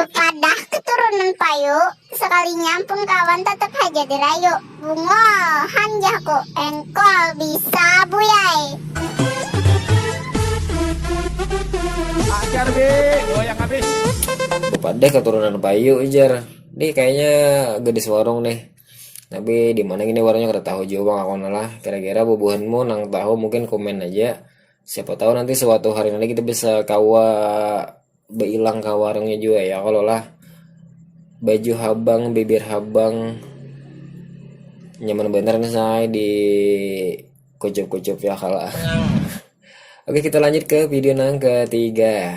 Bepadah keturunan payu, sekalinya ampun kawan tetap haja dirayu. Bungol, han jahku, engkol bisa buyai. Ajar bi, goyang habis. Bepadah keturunan payu jar. Nih kayaknya gadis warung nih. Tapi di mana gini warungnya kada tahu juga bang aku lah. Kira-kira bubuhanmu nang tahu mungkin komen aja. siapa tahu nanti suatu hari nanti kita bisa kawa beilang ke warungnya juga ya kalau lah baju habang bibir habang nyaman bener nih saya di kucup-kucup ya kalau oke kita lanjut ke video nang ketiga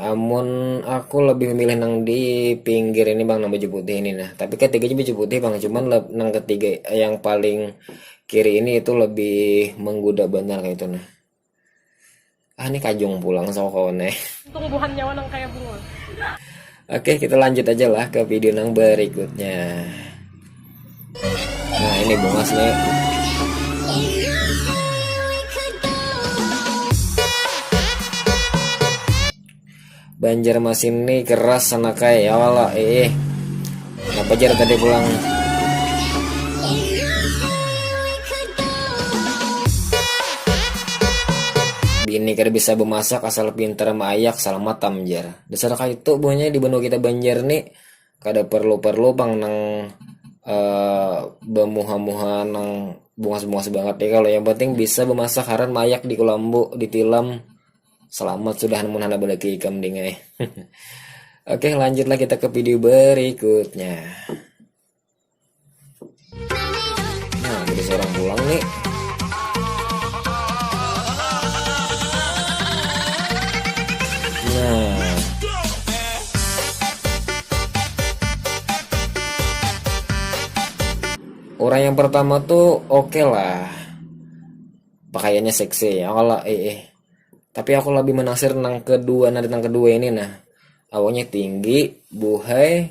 Amun aku lebih memilih nang di pinggir ini bang nang baju putih ini nah. Tapi ketiganya baju putih bang, cuman nang ketiga yang paling kiri ini itu lebih menggoda benar kayak itu nah. Ah ini kajung pulang sama kawan eh. Tumbuhan nyawa nang kayak bunga. Oke kita lanjut aja lah ke video nang berikutnya. nah ini bungas nih Banjarmasin ini keras sana kayak ya wala eh, eh. Kenapa jar tadi pulang ini kada bisa bemasak asal pintar maayak selamat tamjar dasar kayak itu buahnya di benua kita Banjar nih kada perlu-perlu pang nang uh, bemuha-muha nang bungas-bungas banget ya kalau yang penting bisa bemasak haran mayak di kulambu di tilam selamat sudah mun hana balaki ikam dingai oke lanjutlah kita ke video berikutnya Nah, jadi seorang pulang nih. orang yang pertama tuh oke okay lah pakaiannya seksi ya kalau eh, eh tapi aku lebih menasir nang kedua nanti nang kedua ini nah awalnya tinggi buhay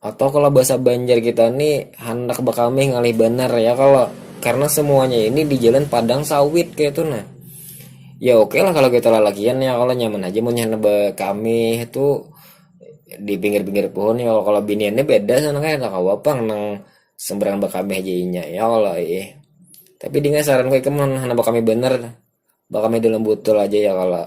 Atau kalau bahasa Banjar kita nih handak bakamih ngalih banar ya kalau karena semuanya ini di jalan padang sawit kayak itu nah ya oke okay lah kalau kita lalakian ya kalau nyaman aja mau nyana bakamih itu di pinggir-pinggir pohon ya kalau biniannya beda sana kayak tak kawa pang nang sembarang bakamih aja inya ya kalau eh tapi dengan saran gue kemen handak bakamih bener bakamih dalam botol aja ya kalau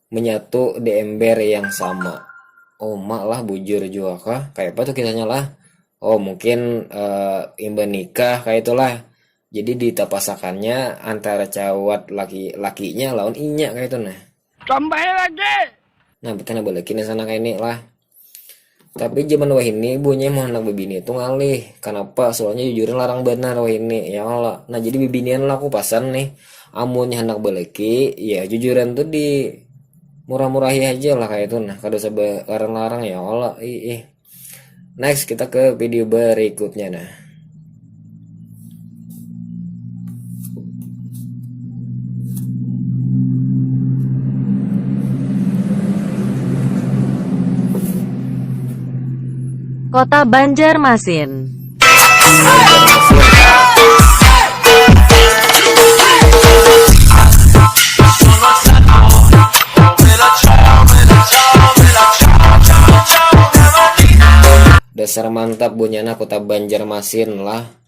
menyatu di ember yang sama. Oh, mak lah bujur juga kah? Kayak apa tuh kisahnya lah? Oh, mungkin uh, eh, imba nikah kayak itulah. Jadi ditapasakannya antara cawat laki lakinya lawan inya kayak itu nah. Tambah lagi. Nah, betulnya balikin sana kayak ini lah. Tapi zaman wahini ibunya mau anak bibini itu ngalih. Kenapa? Soalnya jujuran larang benar wahini, ya Allah. Nah jadi bibinian lah aku pasan nih. Amunnya hendak beleki, ya jujuran tuh di murah-murahi aja lah kayak itu nah. Kada usah larang-larang ya Allah. Ih, ih. Next kita ke video berikutnya nah. Kota Banjarmasin. Dasar mantap bunyana kota Banjarmasin. Asin lah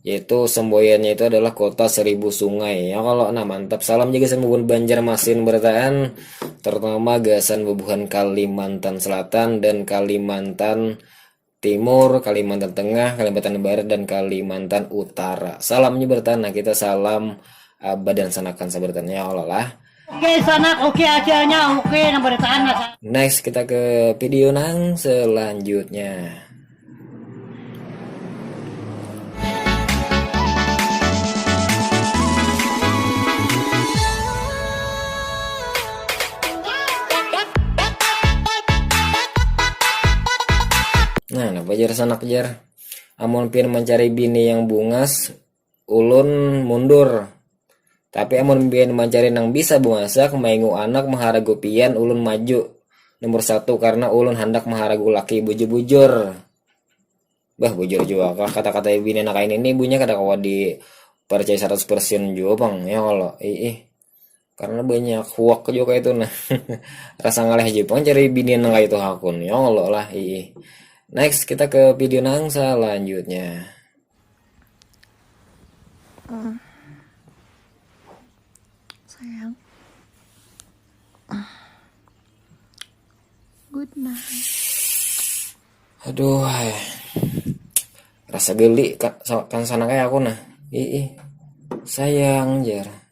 yaitu semboyannya itu adalah kota seribu sungai ya kalau nah mantap salam juga sembuhan Banjar Masin bertaan terutama gasan bubuhan Kalimantan Selatan dan Kalimantan Timur Kalimantan Tengah Kalimantan Barat dan Kalimantan Utara salamnya bertaan nah kita salam abad dan sanakan sabertaan ya Allah lah Oke sanak, oke acaranya, oke nang beritaan lah. Next kita ke video nang selanjutnya. Nah, napa jar sanak jar? Amun pian mencari bini yang bungas, ulun mundur. Tapi amun pian mancari nang bisa bemasak, maingu anak maharagu pian ulun maju nomor satu karena ulun handak maharagu laki bujur-bujur. Bah bujur jua kah kata-kata bini anak kain ini ibunya kada kawa di percaya 100% jua pang ya Allah. Ih, ih. karena banyak huak juga itu nah rasa ngalih aja pun cari binian nang itu hakun ya Allah lah ih next kita ke video nang selanjutnya uh, sayang uh, good night aduh hai. Eh. rasa geli kan sana kayak aku nah ih sayang jar